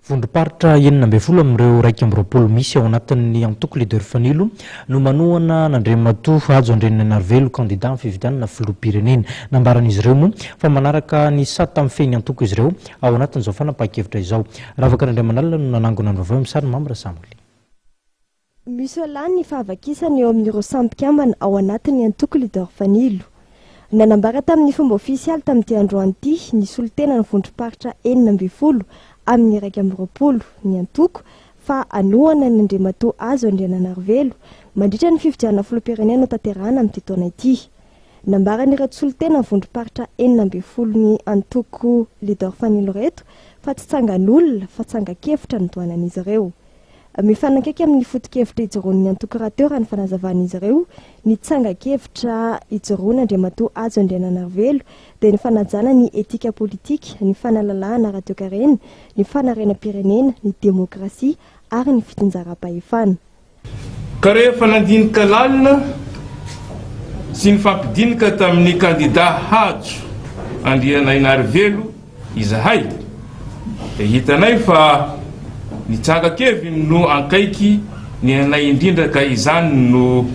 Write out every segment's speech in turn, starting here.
Vondromparitra enina ambin'ny folo amin'ireo iraika amby roapolo misy ao anatin'ny antoko Leader Fanilo no manohana an'Andriamatoa Hajo Andrianainarivelo, kandida amin'ny fifidianana filoham-pirenena. Nambaran'izy ireo moa fa manaraka ny sata mifehy ny antoko izy ireo ao anatin'izao fanapahan-kevitra izao. Ravaka Randriamanalina no nanangona ny vaovao eo amin'ny sariny, Mamy Rasamole. Misolà ny fahavakisana eo amin'ireo samy mpikambana ao anatin'ny antoko Leader Fanilo. Nanambara tamin'ny fomba ofisialy tamin'ity androany ity ny solontenan'ny vondrom-paritra enina ambin'ny folo amin'ny iraika amby roapolo ny antoko fa hanohana an' Andriamatoa Azo Andriananarivelo mandritra ny fifidianana filoham-pirenena hotanterahana amin'ity taona ity. Nambaran'ireto solontenan'ny vondrom-paritra enina ambin'ny folo ny antoko Leader Fanilo ireto fa tsy tsangan'olona fa tsangan-kevitra notohanan'izy ireo. Mifanakaiky amin'ny foto-kevitra ijoroan'ny antoko rahateo raha ny fanazavan'izy ireo ny tsangan-kevitra ijoroana Andriamatoa Hajo Andriananarivelo dia ny fanajana ny etika politika, ny fanalalahana ara-toekarena, ny fanarenam-pirenena, ny demokrasia ary ny fitsinjaram-pahefana. Ka rehefa nandinika lalina sy nifampidinika tamin'ny kandida Hajo Andrianainarivelo, Izahay dia hitanay fa ny tranga Kevin no ankaiky ny anay indrindra ka izany no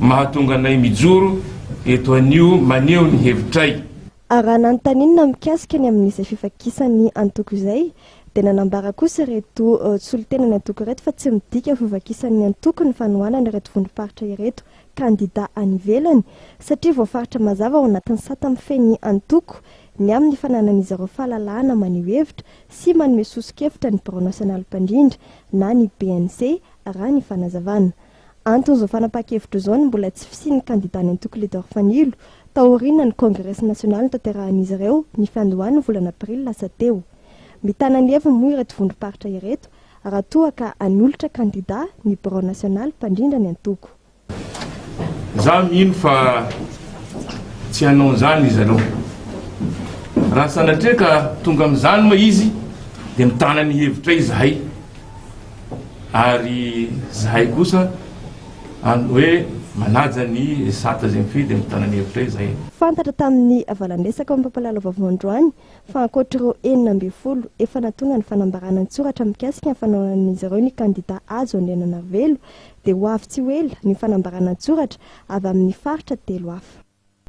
mahatonga anay mijoro eto anio maneho ny hevitray. Ary raha nanontaninina mikasika ny amin'izay fifakisan'ny antoko izay dia nanambara kosa ireto solontenan'ny antoko ireto fa tsy midika ho fifakisan'ny antoko ny fanohanana ireto vondrom-paritra ireto kandida any ivelany satria voafaritra mazava ao anatin'ny sata mifehy ny antoko ny amin'ny fananan'izy ireo fahalalahana maneho hevitra sy manome soso-kevitra ny Birao Nasionaly Mpandrindra na ny BNC, raha ny fanazavana. Anton'izao fanapahan-kevitra izao ny mbola tsy fisian'ny kandida ny antoko Leader Fanilo taorianan'ny Kongresy Nasionaly notanterahan'izy ireo ny fiandohan'ny volana Aprily lasa teo. Mitana ny heviny moa ireto vondrom-paritra ireto raha toa ka hanolotra kandida ny Birao Nasionaly mpandrindra ny antoko. Izaho mino fa tsy hanao an'izany izy ireo. Raha sanatria ka tonga amin'izany moa izy dia mitana ny hevitray izahay ary izahay kosa an hoe manaja ny Esat Zemfy dia mitana ny hevitray izahay. Fantatra tamin'ny valandresaka ao amin'ny Pampalalavaovao androany fa ankoatr'ireo enina ambin'ny folo efa natonga ny fanambarana an-tsoratra mikasika ny fanaonan'izy ireo ny kandidà Hajo Andriananarivelo dia ho avy tsy ho ela ny fanambarana an-tsoratra avy amin'ny faritra telo hafa.